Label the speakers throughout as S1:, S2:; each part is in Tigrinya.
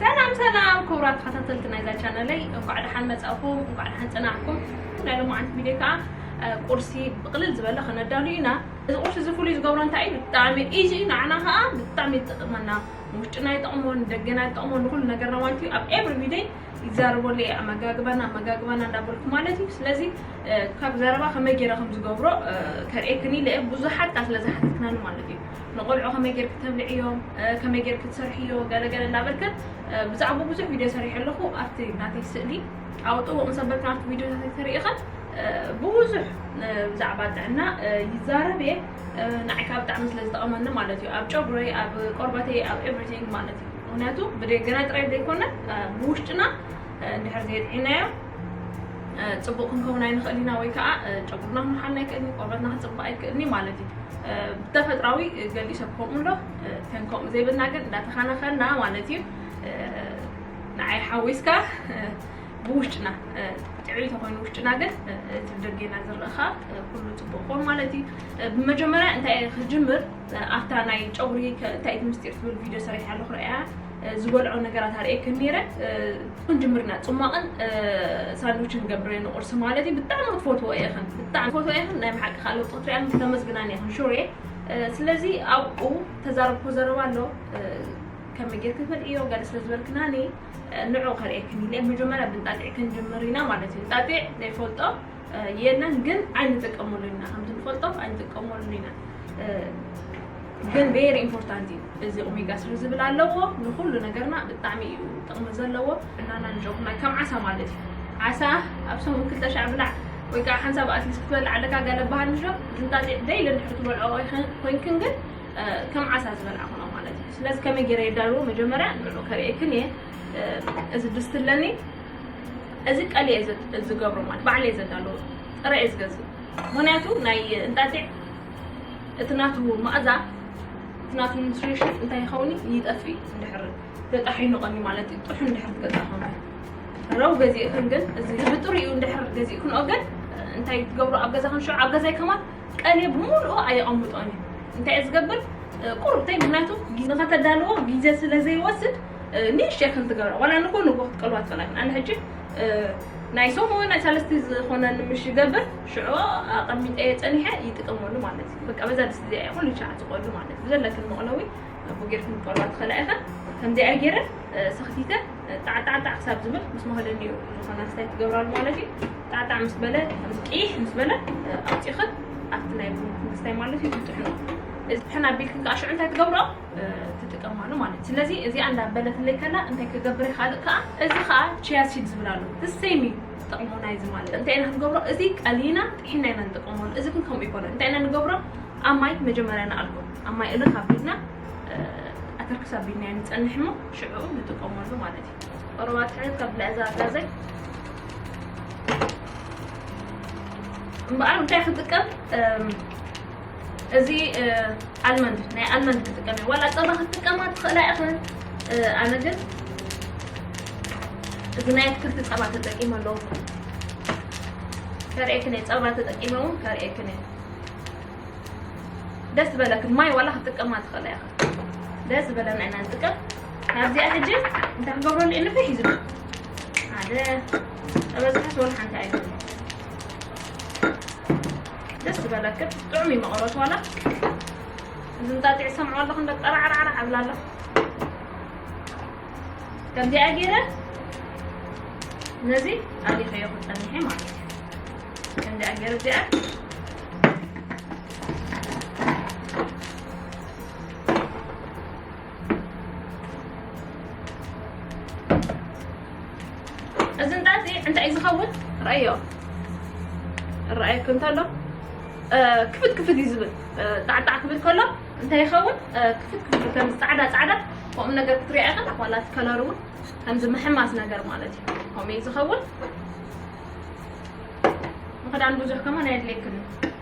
S1: ሰላም ሰላም ክቡራት ተኸታተልቲ ናይዛ ቻነለይ እንኳዕ ደሓን መፃእኹም እንኳዕ ደሓን ፅናሕኩም ናይ ሎማዓንቲ ቪድዮ ከዓ ቁርሲ ብቕልል ዝበለ ከነዳሉ ኢና እዚ ቁርሲ እዚ ፍሉይ ዝገብሮ እንታይ እዩ ብጣዕሚ ኢዚ እዩ ንዓና ከዓ ብጣዕሚ ይጠቕመና ንውሽጥና ይጠቕሞ ንደገና ይጠቕሞ ንኩሉ ነገርና ማለት እዩ ኣብ ኤቭሪ ቪደይ ይዛረበሉ እየ ኣመጋግባና ኣመጋግባና እንዳበልኩ ማለት እዩ ስለዚ ካብ ዘረባ ከመይ ገይረ ከም ዝገብሮ ከርእየክን ኢለ እየ ብዙሓት ካ ስለ ዝሓተትክናኒ ማለት እዩ ንቆልዑ ከመይ ገይር ክተብልዕዮም ከመይ ገይር ክትሰርሕዮ ገለገለ እንዳበልክን ብዛዕባ ብዙሕ ቪድዮ ሰሪሐ ኣለኹ ኣብቲ ናተይ ስእሊ ኣብ ጥቡቅ ምስ ኣበልክን ኣብቲ ቪድዮታት ተሪኢኽን ብብዙሕ ብዛዕባ ጥዕና ይዛረብ እየ ንዓይ ከዓ ብጣዕሚ ስለ ዝጠቐመኒ ማለት እዩ ኣብ ጨጉረይ ኣብ ቆርበተይ ኣብ ኤቭሪቲንግ ማለት እዩ ምክንያቱ ብደገና ጥራይ ዘይኮነ ብውሽጥና እንድሕር ዘየጥዒናዮ ፅቡቕ ክንከውን ኣይንኽእል ኢና ወይ ከዓ ጨጉርና ክንሓና ኣይክእል እዩ ቆርበትና ክፅባእ ኣይክእልኒ ማለት እዩ ብተፈጥራዊ ገሊኡ ሰብ ከምኡ ኣሎ ተን ከምኡ ዘይብልና ግን እንዳተኸናኸና ማለት እዩ ንዓይ ሓዊስካ ብውሽጥና ጥዕይ ተኮይኑ ውሽጥና ግን እቲ ብደጌና ዝርእ ከዓ ኩሉ ፅቡቅ ኮን ማለት እዩ ብመጀመርያ እንታይ ክጅምር ኣብታ ናይ ጨጉሪ እንታይ እቲ ምስጢር ትብል ቪድዮ ሰሪሐ ኣለኹ ረኣያ ዝበልዖ ነገራት ኣርእየክን ነይረ ትኹን ጅምርና ፅሟቕን ሳንዱችን ገብረ ንቁርሲ ማለት እዩ ብጣዕሚ ክትፈትዎ ኢኽን ብጣዕሚ ፈትዎ ኢኽን ናይ ብሓቂ ከዓ ለውጢ ክትሪኣን ክተመስግናን ኢኽን ሹር እየ ስለዚ ኣብኡ ተዛረብኩ ዘረባ ኣሎ ከመይ ጌርክ ትበልዕዮ ገለ ስለ ዝበልክናኒ ንዑ ከርእየክን ኢለ መጀመርያ ብንጣጢዕ ክንጅምር ኢና ማለት እዩ ጣጢዕ ዘይፈልጦ የለን ግን ኣይንጥቀመሉ ኢና ከምቲ ንፈልጦ ኣይንጥቀመሉ ኢና ግን ቤሪ ኢምፖርታንት እዩ እዚ ኦሜጋ ስሪ ዝብል ኣለዎ ንኩሉ ነገርና ብጣዕሚ እዩ ጥቕሚ ዘለዎ እናና ንጆኩና ከም ዓሳ ማለት እዩ ዓሳ ኣብ ሰሙን ክልተ ሻዕ ብላዕ ወይ ከዓ ሓንሳብ ኣትሊስት ክትበልዕ ኣለካ ገለ በሃል ምሽ እንጣጢዕ ደይሊ ንድሕር ትበልዖ ኮይንክን ግን ከም ዓሳ ዝበልዓ ኾኖ ማለት እዩ ስለዚ ከመይ ገይረ የዳልዎ መጀመርያ ንዑ ከርእየክን እየ እዚ ድስቲ ኣለኒ እዚ ቀልየ ዝገብሮ ማለት ባዕለየ ዘዳለዎ ጥረ እየ ዝገዝእ ምክንያቱ ናይ እንጣጢዕ እቲ ናቱ ማእዛ እቲ ናቱ ኒትሪሽን እንታይ ይኸውን ይጠፍ እንድሕር ተጣሒኑ ቀኒ ማለት እዩ ጥሑ እንድሕር ትገዛ ኮነ ረው ገዚእክን ግን እዚ ብጥሪኡ እንድሕር ገዚእክን ግን እንታይ ትገብሩ ኣብ ገዛክን ሽዑ ኣብ ገዛይ ከማን ቀልየ ብምልኡ ኣየቐምጦን እዩ እንታይ እየ ዝገብር ቁርብተይ ምክንያቱ ንኸተዳልዎ ግዜ ስለ ዘይወስድ ንእሽተይ ከም ትገብራ ዋላ ንጎ ንጎ ክትቀልዋ ትኽእላ ግን ኣነ ሕጂ ናይ ሶም ወይ ናይ ሳለስቲ ዝኾነኒ ምሽ ይገብር ሽዑ ኣቐሚጠየ ጸኒሐ ይጥቀመሉ ማለት እዩ በቃ በዛ ድስቲ እዚኣ እየ ኩሉ ሻዕ ዝቆሉ ማለት እዩ ብዘለክን መቕለዊ ኣቦ ጌርክን ክቀልዋ ትኽእላ ኢኸን ከምዚኣ ገይረ ሰኽቲተ ጣዕጣዕጣዕ ክሳብ ዝብል ምስ መኸደኒ እዩ ዝኾነ ክሳይ ትገብራሉ ማለት እዩ ጣዕጣዕ ምስ በለ ምስ ቅይሕ ምስ በለ ኣውፂኽን ኣብቲ ናይ ክስታይ ማለት እዩ ትጥሕኖ እዚ ትሕን ኣቢልክን ከዓ ሽዑ እንታይ ትገብሮ ትጥቀማሉ ማለት እዩ ስለዚ እዚኣ እንዳበለትለይ ከላ እንታይ ክገብር ይካልእ ከዓ እዚ ከዓ ቺያሲድ ዝብል ኣሎ እሰይሚ ዝጠቕሞ ናይዚ ማለት እንታይ ኢና ክንገብሮ እዚ ቀሊና ጥሒና ኢና ንጥቀመሉ እዚ ግን ከምኡ ይኮነ እንታይ ኢና ንገብሮ ኣብ ማይ መጀመርያ ንኣልኮ ኣብ ማይ እልክ ኣቢልና ኣተርክስ ኣቢልና ኢና ንፀንሕ እሞ ሽዑ ንጥቀመሉ ማለት እዩ ቆረባ ትሕት ካብ ልዕዛ ጋዘይ እምበኣር እንታይ ክንጥቀም እዚ ኣልመንድ ናይ ኣልመንድ ክጥቀም እየ ዋላ ፀባ ክትጥቀማ ትኽእላ ኢኽን ኣነ ግን እዚ ናይ ኣትክልቲ ፀባ ተጠቂመ ኣለኹ ከርእየክን እየ ፀባ ተጠቂመ እውን ከርእየክን እየ ደስ ዝበለክን ማይ ዋላ ክትጥቀማ ትኽእላ ኢኽን ደስ ዝበለና ኢና ንጥቀም ካብዚኣ ሕጂ እንታይ ክገብረሉ እየ ንፍሕ እዩ ዝብል ሓደ ጠበዝሓስ ወላ ሓንቲ ኣይኮነ ደስ ዝበለክን ጥዑም እዩ መቐረቱ ዋላ እዚ እንጣጢዕ ሰምዖ ኣለኹ እንደ ጠራዕራዕራዕ ኣብላ ኣለኹ ከምዚኣ ገይረ ነዚ ኣሊኸዮ ክፀኒሐ ማለት እዩ ከምዚኣ ገይረ እዚኣ እዚ እንዳ እዚ እንታይ እዩ ዝኸውን ርኣዮ ርኣየኩም እንተሎ ክፍት ክፍት እዩ ዝብል ጣዕጣዕ ክብል ከሎ እንታይ ይኸውን ክፍት ክፍት ከም ፃዕዳ ፃዕዳ ከምኡ ነገር ክትሪኦ ኢኻ ዋላ እቲ ከለር እውን ከምዚ ምሕማስ ነገር ማለት እዩ ከምኡ እዩ ዝኸውን ንክዳን ብዙሕ ከማን ኣየድልየክን እዩ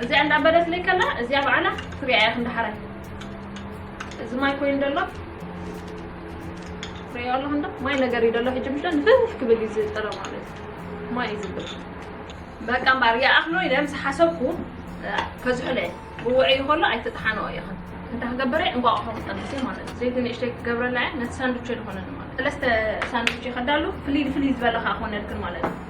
S1: እዚኣ እንዳበለት ለይ ከላ እዚኣ በዓላ ትሪኣ እያ ክንዲ ሓራይ እዚ ማይ ኮይኑ ደሎ ትሪኦ ኣለኹ እንዶ ማይ ነገር እዩ ደሎ ሕጂ ምሽዶ ንፍፍ ክብል እዩ ዝጥረ ማለት እዩ ማይ እዩ ዝብል በቃ እምበኣር ይኣኽሎ ኢለ ምስ ሓሰብኩ ከዝሕለ ብውዕዩ ከሎ ኣይትጥሓንኦ ኢኽን እንታይ ክገብረ እንቋቑሖ ክፀንስ እየ ማለት እዩ ዘይቲ ንእሽተይ ክገብረላ እየ ነቲ ሳንዱቸ ዝኾነኒ ማለት ሰለስተ ሳንዱቸ ከዳሉ ፍልይ ፍልይ ዝበለ ከዓ ክኾነልክን ማለት እዩ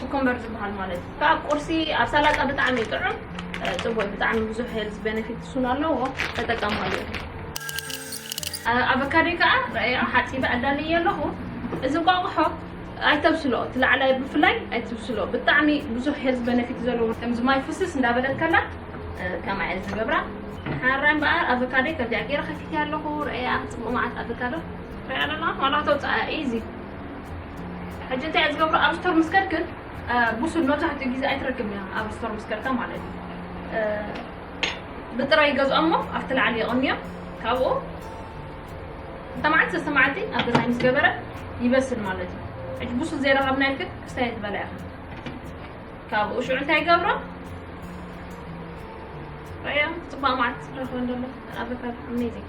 S1: ኩኮምበር ዝብሃል ማለት ካብ ቁርሲ ኣብ ሳላጣ ብጣዕሚ እዩ ጥዑም ጽቡቅ ብጣዕሚ ብዙሕ ሄልዝ ቤነፊትስ እውን ኣለዎ ተጠቀማሉ ኣበካዶይ ከዓ ረኣያ ሓፂበ ኣዳልየ ኣለኹ እዚ እንቋቑሖ ኣይተብስሎ እቲ ላዕላይ ብፍላይ ኣይትብስሎ ብጣዕሚ ብዙሕ ሄልዝ ቤነፊት ዘለዎ ከምዚ ማይ ፍስስ እንዳበለት ከላ ከማይ እየ ዝገብራ ሓራይ እምበኣር ኣበካዶይ ከምዚኣ ገይረ ከፊትያ ኣለኹ ረኣያ ፅቡቅ መዓት ኣበካዶ ረኣያ ኣለና ዋላ ተውፅኣ ኢዚ ሕጂ እንታይ እየ ዝገብሮ ኣብ ስቶር ምስ ከድክን ብሱል መብዛሕትኡ ግዜ ኣይትረክብን እያ ኣብ ስቶር ምስ ከድካ ማለት እዩ ብጥረ ይገዝኦ እሞ ኣብቲ ላዕሊ የቐንዮ ካብኡ እንተ መዓልቲ ሰስተ መዓልቲ ኣብ ገዛይ ምስ ገበረ ይበስል ማለት እዩ ሕጂ ብሱል ዘይረኸብና ኢልክን ክስታይ ትበላ ኢኻ ካብኡ ሽዑ እንታይ ይገብሮ ረያ ፅባቕ መዓልቲ ረኽበ እንደሎ ኣበካ ኣሜዚንግ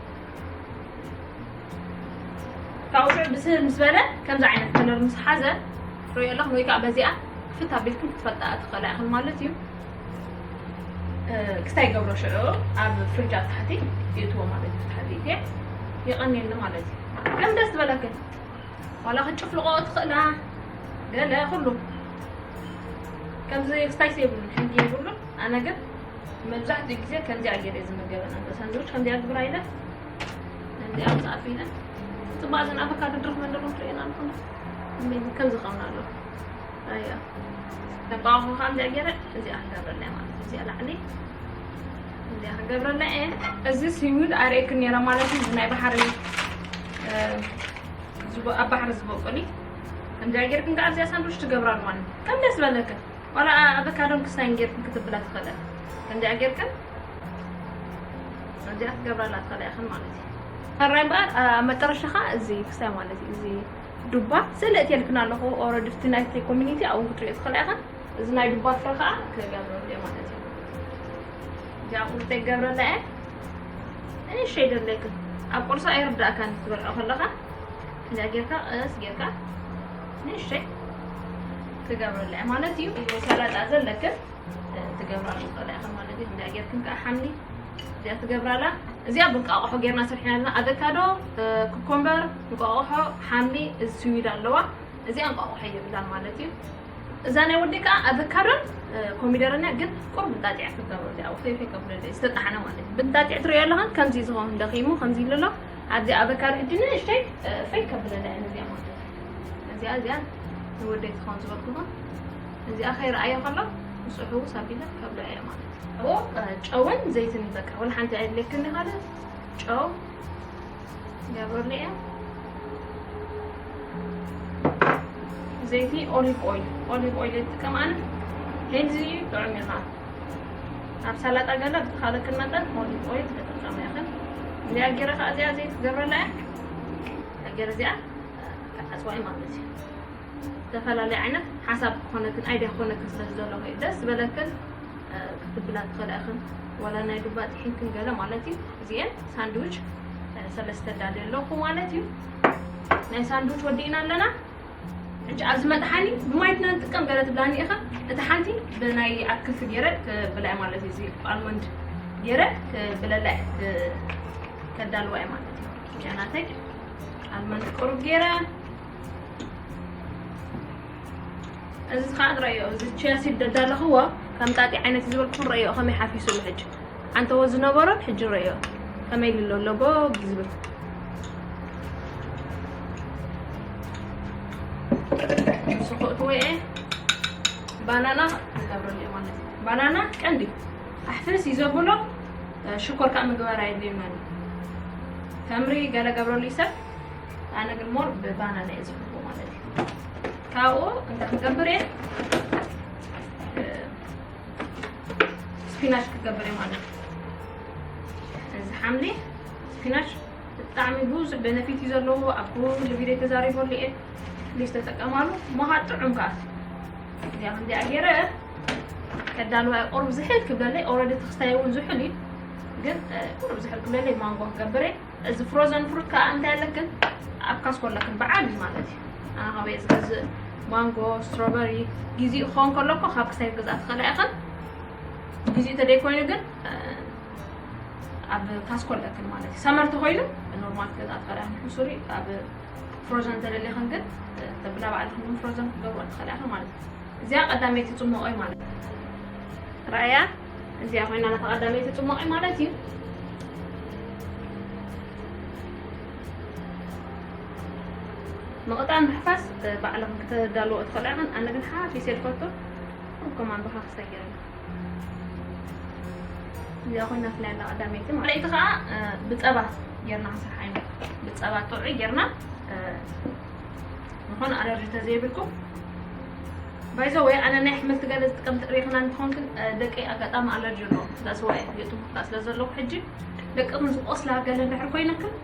S1: ካብኡ ብስህ ምስ በለ ከምዚ ዓይነት ከለር ምስ ሓዘ ርእዮ ኣለኹም ወይ ከዓ በዚኣ ክፍት ኣቢልኩም ክትፈልጣ ትኽእላ ኢኹም ማለት እዩ ክስታይ ገብሮ ሽዑ ኣብ ፍርጃ ታሕቲ ይእትዎ ማለት እዩ ታሕቲ እየ ይቐኒኒ ማለት እዩ ከም ደስ ዝበለክን ዋላ ክትጭፍልቆ ትኽእላ ገለ ኩሉ ከምዚ ክስታይ የብሉን ሕጊ የብሉን ኣነ ግን መብዛሕትኡ ግዜ ከምዚኣ ገይረ ዝምገበን ኣሎ ሳንድዊች ከምዚኣ ግብራ ኢለ ከምዚኣ ምሳኣቱ ኢለ ፅባቅ ዘን ኣቮካዶ ድርክ መንደሮ ትርእየና ኣለኹም ከምዚ ከምና ኣሎ ኣያ ተቋሙ ከምዚኣ ገይረ እዚኣ ክገብረላ ማለት እዩ እዚኣ ላዕሊ እዚኣ ክገብረላ እየ እዚ ሲዊድ ኣርእየክ ነይረ ማለት እዩ ናይ ባሕሪ ኣብ ባሕሪ ዝበቁል እዩ ከምዚኣ ገይርክን ከዓ እዚኣ ሳንድዊች ትገብራ ኣለዋን ከም ደስ በለክን ዋላ ኣበካዶን ክስታይን ጌርክን ክትብላ ትኽእለን ከምዚኣ ጌርክን ከምዚኣ ክትገብራላ ትኽእላ ኢኽን ማለት እዩ ሕራይ እምበኣር ኣብ መጠረሻ ከዓ እዚ ክስታይ ማለት እዩ እዚ ዱባ ስእሊ እትየልክን ኣለኹ ኦረዲ እቲ ናይቲ ኮሚኒቲ ኣብኡ ክትሪኦ ትኽእላ ኢኽን እዚ ናይ ዱባ ፍረ ከዓ ክገብረሉ እየ ማለት እዩ እዚኣ ቁርጠይ ገብረላ እየ እኔ ሸይ ደለይክን ኣብ ቁርሳ ኣይርዳእካን ክትበልዖ ከለኻ እዚኣ ጌርካ ቀስ ጌርካ ንእሽተይ ትገብርለ እያ ማለት እዩ ወይ ሰላጣ ዘለክን ትገብራሉ ትኽእላ ኢኻ ማለት እዩ እንዳ ጌርክን ከዓ ሓምሊ እዚኣ ትገብራላ እዚኣ ብንቃቑሖ ጌርና ስርሕና ኣለና ኣቨካዶ ኩኮምበር እንቋቑሖ ሓምሊ እዚ ስዊድ ኣለዋ እዚኣ እንቋቑሖ የብላን ማለት እዩ እዛ ናይ ወዲ ከዓ ኣቨካዶን ኮሚደርን እያ ግን ቁሩብ እንጣጢዕ ክትገብሮ እዚኣ ውፈይፈ ከብሎ ዝተጣሕነ ማለት እዩ ብንጣጢዕ ትሪኦ ኣለኻ ከምዚ ዝኸውን ደኺሙ ከምዚ ኢሉ ኣሎ ኣብዚ ኣቨካዶ ሕጂ ንእሽተይ ፈይ ከብለላ እያ ነዚኣ ማለት እዩ እዚኣ እዚኣ ንወደይ ትኸውን ዝበልኩኹ እዚኣ ከይረኣዮ ከሎ ምስሑ ሳቢለ ካብ ዶ እያ ማለት እቦ ጨውን ዘይትን በቃ ወላ ሓንቲ ኣይድለክኒ ካለ ጨው ገብረሉ እያ ዘይቲ ኦሊቭ ኦይል ኦሊቭ ኦይል የጥቀም ኣነ ሄልዚ እዩ ጥዑም እዩ ከዓ ኣብ ሰላጣ ገለ ብካለክን መጠን ኦሊቭ ኦይል ተጠቀመ ይኽን እዚኣ ጌረ ከዓ እዚኣ ዘይቲ ገብረላ እያ ነገር እዚኣ ክዓፅዋ እዩ ማለት እዩ ዝተፈላለየ ዓይነት ሓሳብ ክኾነክን ኣይድያ ክኾነክን ስለ ዝደለኹ እዩ ደስ ዝበለክን ክትብላ ትኽእላ ኢኽን ዋላ ናይ ዱባ ጥሒንክን ገለ ማለት እዩ እዚአን ሳንድዊች ሰለስተ ዳልየ ኣለኹ ማለት እዩ ናይ ሳንድዊች ወዲእና ኣለና ሕጂ ኣብዚ መጥሓኒ ብማይትና ንጥቀም ገለ ትብላኒ ኢኻ እቲ ሓንቲ ብናይ ኣትክልቲ ገይረ ብላይ ማለት እዩ እዚ ኣልመንድ ገይረ ብለላይ ከዳልዋ እዩ ማለት እዩ እዚኣ ናተይ ኣብ መንት ቁሩብ ገይረ እዚ ከዓ ዝረአዮ እዚ ቸልሲ ደዳለኽዎ ከም ጣጢ ዓይነት ዝበልኩን ረእዮ ከመይ ሓፊሱሉ ሕጂ ዓንተዎ ዝነበሮን ሕጂ ረእዮ ከመይ ልሎ ኣለቦ ዝብል ንሱ ክእትዎ እየ ባናና ይገብረሉ ማለት ባናና ቀንዲ ኣሕፍስ ይዘብሎ ሽኮር ከዓ ምግባር ኣየድልየናን ተምሪ ገለ ገብረሉ ይሰብ ኣነ ግን ሞር ብባናና እየ ዝብልዎ ማለት እዩ ካብኡ እንታይ ክገብር እየ ስፒናሽ ክገብር እየ ማለት እዩ እዚ ሓምሊ ስፒናሽ ብጣዕሚ ብዙሕ ቤነፊት እዩ ዘለዎ ኣብ ኩሉ ቪድዮ ተዛሪበሉ እየ ፕሊዝ ተጠቀማሉ መሃ ጥዑም ከዓ እዚኣ ከምዚኣ ገይረ ከዳልዋ እየ ቁሩብ ዝሕል ክብለለይ ኦልሬዲ እቲ ክስታይ እውን ዝሑል እዩ ግን ቁሩብ ዝሕል ክብለለይ ማንጎ ክገብር እየ እዚ ፍሮዘን ፍሩት ከዓ እንታይ ኣለክን ኣብ ካስኮ ኣለክን በዓል እዩ ማለት እዩ ኣነ ካበየ ዝገዝእ ማንጎ ስትሮበሪ ግዜኡ ክኸውን ከሎ እኮ ካብ ክስታይ ገዝኣ ትኽእላ ኢኽን ግዜኡ ተደይኮይኑ ግን ኣብ ካስኮ ኣለክን ማለት እዩ ሰመር ተኮይኑ ኖርማል ገዝኣ ትኽእላ ኢኽን ሕሱሪ ኣብ ፍሮዘን ተደሊኽን ግን ተብላ በዓልክን ፍሮዘን ክትገብሩ ትኽእላ ኢኽን ማለት እዩ እዚኣ ቀዳመይቲ ጽሞቐይ ማለት ራእያ እዚኣ ኮይና ናታ ቀዳመይቲ ጽሞቐይ ማለት እዩ መቕጣን ምሕፋስ ባዕልኹም ክትዳልዎ ትኽእሉ ኢኹም ኣነ ግን ሓፊሰ ዝፈቱ ከምከም ኣንብኻ ክሰይር እዚኣ ኮይና ፍላይ ኣላ ቀዳመይቲ ማለት እቲ ከዓ ብፀባ ጌርና ክንሰርሓ ኢና ብፀባ ጥዑይ ጌርና ዝኾነ ኣለርጂ ተዘይብልኩም ባይዘ ወይ ኣነ ናይ ኣሕምልቲ ገለ ዝጥቀም ትሪኢኽና እንትኾን ግን ደቂ ኣጋጣሚ ኣለርጂ ኣለዎም ስለዝዋየ የጥሙቕካ ስለ ዘለኹ ሕጂ ደቅኹም ዝቆስላ ገለ እንድሕር ኮይነክን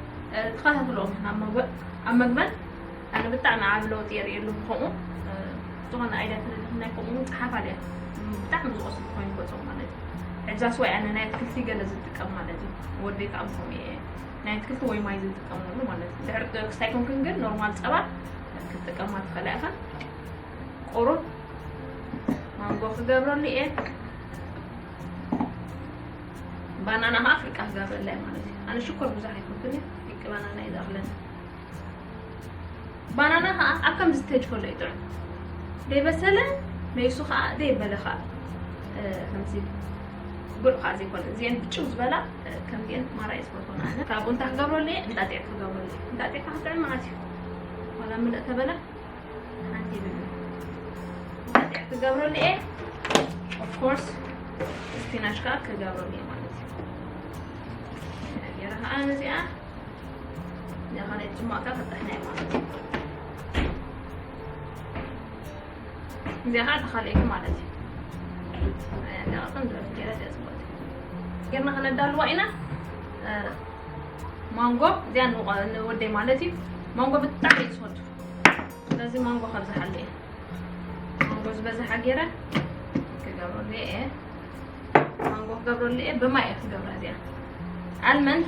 S1: ተኸታትሎም ኣብ መግበን ኣነ ብጣዕሚ ዓብ ለውጢ የርእየሉ ከምኡ ዝኾነ ኣይዳ ተደልኹም ናይ ከምኡ እውን ፀሓፍ ኣልያ ብጣዕሚ ዝቆስሉ ኮይኑ ገፆም ማለት እዩ ሕጃስ ወይ ኣነ ናይ ኣትክልቲ ገለ ዝጥቀም ማለት እዩ ወደይ ከዓ ከምኡ እየ ናይ ኣትክልቲ ወይ ማይ ዘይትጥቀመሉ ማለት እዩ ድሕሪ ክስታይ ኮንክን ግን ኖርማል ፀባ ክትጥቀማ ትኽእላ ኢኻ ቁሩብ ማንጎ ክገብረሉ እየ ባናና ከዓ ፍርቃ ክገብረላ ማለት እዩ ኣነ ሽኮር ብዙሕ ኣይኮንኩን ፍርቂ ባናና እዩ ዝኣኽለኒ ባናና ከኣ ኣብ ከምዚ ስቴጅ ከሎ እዩ ጥዑም ዘይበሰለ መይሱ ከኣ ዘይበለ ከኣ ከምዚ ጉዕ ከኣ ዘይኮነ እዚኤን ብጭው ዝበላ ከምዚኤን ማራ እየ ዝፈትወን ኣነ ካብኡ እንታይ ክገብረሉ እየ እንጣጢዕ ክገብረሉ እየ እንጣጢዕ ከኣ ክጥዕም መዓት እዩ ዋላ ምልእ ተበለ ሓንቲ ይብል እንጣጢዕ ክገብረሉ እየ ኦፍኮርስ ስፒናች ከኣ ክገብረሉ እየ ማለት እዩ ገይረ ከኣ ነዚኣ ማንጎ እዚኣ ንወደይ ማለት እዩ ማንጎ ብጣዕሚ እዩ ዝፈቱ ስለዚ ማንጎ ከብዝሓሉ እየ ማንጎ ዝበዝሓ ገይረ ክገብረሉ እየ ማንጎ ክገብረሉ እየ ብማይ እየ ክገብራ እዚኣ ኣልመንድ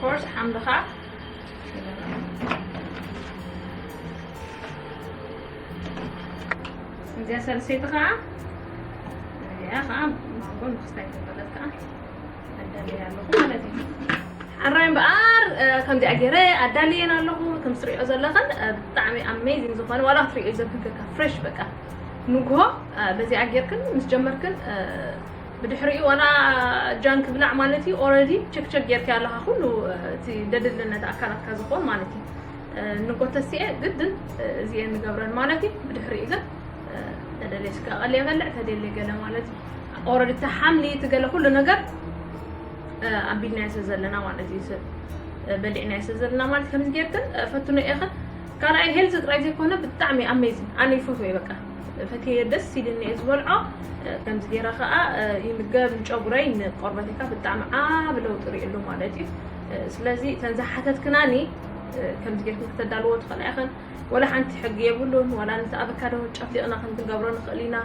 S1: ኮርስ ሓምልኻ እዚኣ ሰልሰይቲ ከዓ እዚኣ ከዓ ማንጎ ንክስታይ ተፈለት ከዓ ኣዳልየ ኣለኹ ማለት እዩ ሓራይ እምበኣር ከምዚኣ ገይረ ኣዳልየን ኣለኹ ከም ትሪኦ ዘለኽን ብጣዕሚ ኣሜዚንግ ዝኾነ ዋላ ክትሪኦ ዘብህገካ ፍሬሽ በቃ ንግሆ በዚኣ ጌርክን ምስ ጀመርክን ብድሕሪኡ ዋላ ጃን ክብላዕ ማለት እዩ ኦረዲ ቸክቸክ ጌርካዮ ኣለኻ ኩሉ እቲ ደድልነት ኣካላትካ ዝኾን ማለት እዩ ንጎተሲኤ ግድን እዚኤ ንገብረን ማለት እዩ ብድሕሪኡ ግን ተደልየ ስጋ ቀልየ በልዕ ተደልየ ገለ ማለት እዩ ኦረዲ እቲ ሓምሊ እቲ ገለ ኩሉ ነገር ኣቢልናዮ ስለ ዘለና ማለት እዩ ሰብ በሊዕናዮ ስለ ዘለና ማለት ከምዚ ጌርክን ፈትኖ ኢኽን ካልኣይ ሄልዚ ጥራይ ዘይኮነ ብጣዕሚ ኣሜዚን ኣነ ይፈትዎ እዩ በቃ ፈትየዮ ደስ ኢልኒ እየ ዝበልዖ ከምዚ ገይረ ከዓ ይምገብ ንጨጉረይ ንቆርበተይ ከዓ ብጣዕሚ ዓብ ለውጢ ርእሉ ማለት እዩ ስለዚ እተን ዝሓተትክናኒ ከምዚ ጌርክን ከተዳልዎ ትኽእላ ኢኽን ወላ ሓንቲ ሕጊ የብሉን ወላ ነቲ ኣበካዶ ጨፍሊቕና ከም ክንገብሮ ንኽእል ኢና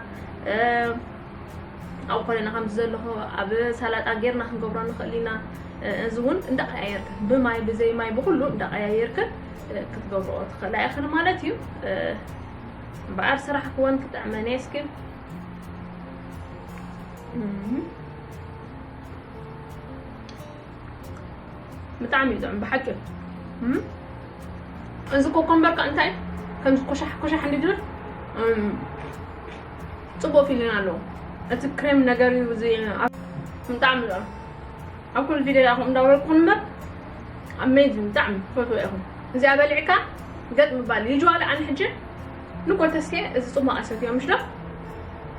S1: ኣብ ኮለና ከምዚ ዘለኹ ኣብ ሰላጣ ጌርና ክንገብሮ ንኽእል ኢና እዚ እውን እንዳቀያየርክን ብማይ ብዘይ ማይ ብኩሉ እንዳቀያየርክን ክትገብርኦ ትኽእላ ኢኽን ማለት እዩ እምበኣር ስራሕ ክወን ክጥዕመን እየ እስኪ ብጣዕሚ እዩ ጥዑም ብሓቂ እዚ ኮኮምበር ከ እንታይ ከምዚ ኮሻሕ ኮሻሕ እንዲ ድብል ፅቡቅ ፊሊን ኣለዎ እቲ ክሬም ነገር እዩ ብጣዕሚ እዩ ኣብ ኩሉ ቪድዮ ኢኩም እንዳውረድኩም እምበር ኣሜዚንግ ብጣዕሚ ትፈትዎ ኢኩም እዚኣ በሊዕካ ገጥ ምባል ይጅዋለ ኣነ ሕጂ ንኮ ተስኬ እዚ ጽማቕ ኣሰትዮ ምሽ ዶ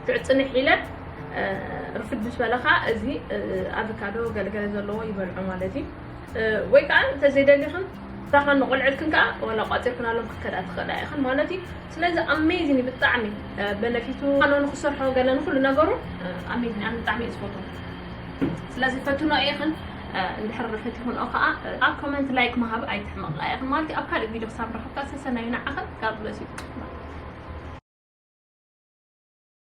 S1: ክዕጽንሕ ኢለ ርፍድ ምስ በለኻ እዚ ኣቮካዶ ገለገለ ዘለዎ ይበልዑ ማለት እዩ ወይ ከዓ እንተዘይደሊኽን ራኻን ንቆልዕልክን ከዓ ወላ ቋፂርክናሎም ክትከዳ ትኽእላ ኢኽን ማለት እዩ ስለዚ ኣሜዚን እዩ ብጣዕሚ በነፊቱ ኣነ ንክሰርሖ ገለ ንኩሉ ነገሩ ኣሜዚን ኣነ ብጣዕሚ እዩ ዝፈትዎ ስለዚ ፈትኖ ኢኽን እንድሕር ርሕት ይኹን ከዓ ኣብ ኮመንት ላይክ ምሃብ ኣይትሕመቕ ኢኽን ማለት ኣብ ካልእ ቪድዮ ክሳብ ረኸብካ ሰሰናዩ ንዓኽን ጋር ብለስ እዩ